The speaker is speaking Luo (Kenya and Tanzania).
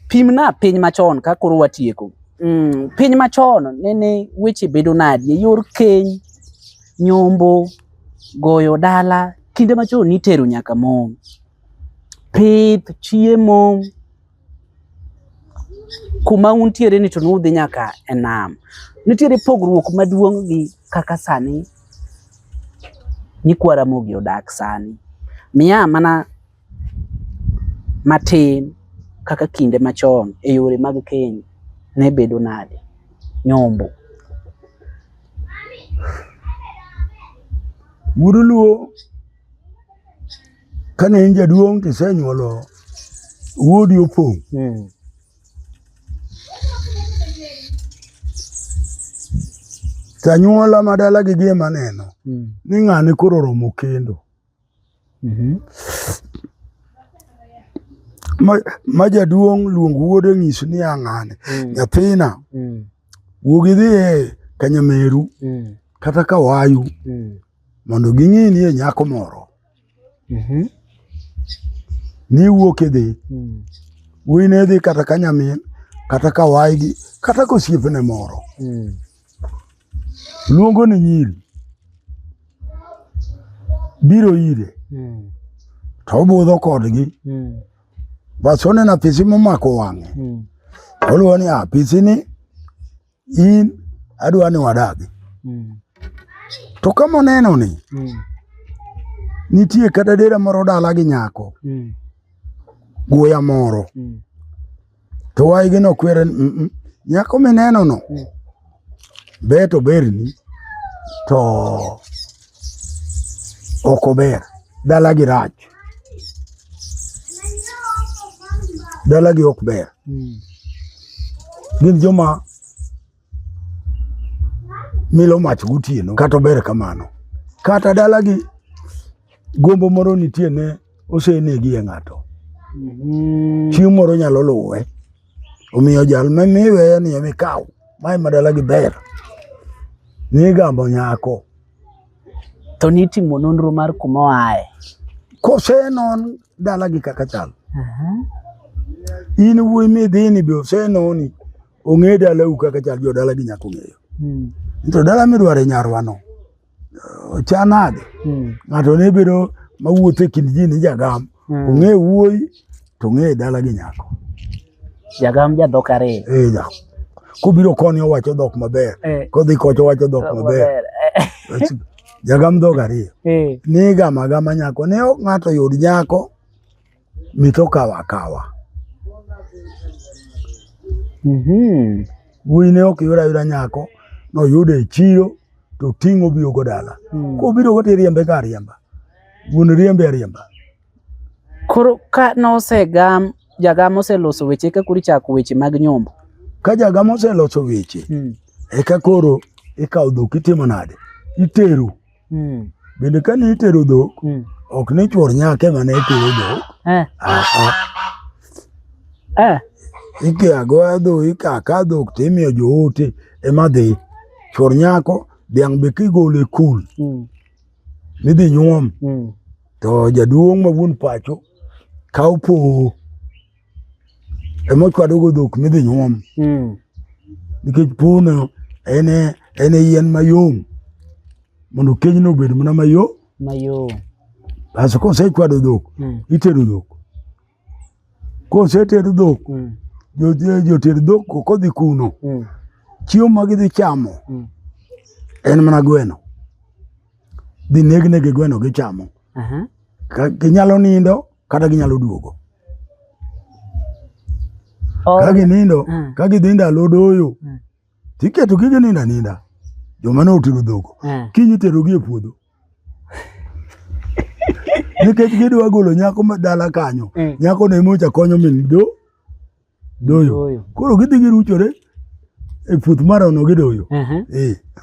Pimna piny machon ka koro watieko. Mm, piny machon nene weche bedo nadi e yor keny, nyombo, goyo dala, kinde machon nitero nyaka mon. Pith, chiemo, kuma untiere ni to nudhi nyaka e nam. Nitiere pogruok maduong' gi kaka sani nyikwa Ramogi odak sani. Miya mana matin kaka kinde machon e yore mag keny ne bedo nade? Nyombo. Wuodu Luo kane in jaduong' tisenyuolo wuodi opong'. Hmm. Tanyuola madala gi gima neno hmm. ni ng'ani koro romo kendo. Mhm. Ma, ma jaduong' luong wuode nyis ni ang'ane mm. nyathina mm. wuog idhi e kanyameru mm. kata kawayu mm. mondo ging'e ni e nyako moro mm -hmm. ni wuok idhi mm. wuyi ne dhi kata kanyamin kata kawayi gi kata kosiepne moro mm. luongo ni nyiri biro ire hmm. to obudho kodgi hmm. bas oneno apisi momako wang'e hmm. oluwo ni apisini ah, in adwa ni wadagi to kama oneno ni nitie kata dera moro dala gi nyako guya moro to waygi nokwere ni "Mm, mm, nyako minenono ber to berni to ok ober dalagi rach dalagi ok ber gin joma milo mach gotieno kata ober kamano kata dalagi gombo moro nitie ne osenegi e ng'ato mhm. chieng' moro nyalo luwe omiyo jal mamiweye ni emikaw mae madalagi ber nigambo nyako to nitimo nonro mar kuma oaye kosenon dalagi kaka chal in wuoyi midhini be osenoni ong'e dalau kaka chal jo dala gi nyako ng'eyo hmm. to dala midwaro e nyarwa no cha nade hmm. ng'ato ne bedo mawuotho e kind ji ni jagam hmm. ong'e wuoyi to ong'e dala gi nyako jagam jadhok ariyo eh, ja. kobiro koni owacho dhok maber eh. kodhi kocha owacho dhok maber eh. jagam dhok ariyo eh. nigama gama nyako ne ng'ato yud nyako mitoka wakawa mm -hmm. wuoyi ne ok yura yura nyako noyude e chiro to ting'o biyo go dala mm. kobiro go tiriembe ka riemba wuon riembe ariemba koro ka nosegam jagam oseloso weche eka koro ichako weche mag nyombo ka jagam oseloso weche mm. eka koro ikawo dhok itimo nade itero mm. bende kane itero dhok mm. ok ni chuor nyaka ema ne itero dhok eh. ah, ah. eh. ike agoya dho ikaka dhok to imiyo joote ema dhi chuor nyako dhiang' be kigole kul mm. midhi nyuom mm. to jaduong' ma wuon pacho kaw powo ema ochwadogo dhok midhi nyuom hmm. nikech pono en e yien mayom mondo kenyno obed mana mayo mayom bas kosechwado dhok hmm. itero dhok koseter dhok hmm. joter dhok kodhi kuno chiemo ma gidhi chamo en mana gweno dhi negnegi gweno gichamo ginyalo nindo kata ginyalo duogo oh. ka ginindo mm. ka gidhi ndalo doyo mm. tiketo gi ginindo aninda joma ne otero dhoko mm. kinyi terogi e puodho nikech gidwa golo nyako ma dala kanyo mm. nyako ne mocha konyo min do doyo koro gidhi giruchore e puoth marono gidoyo uh -huh. e.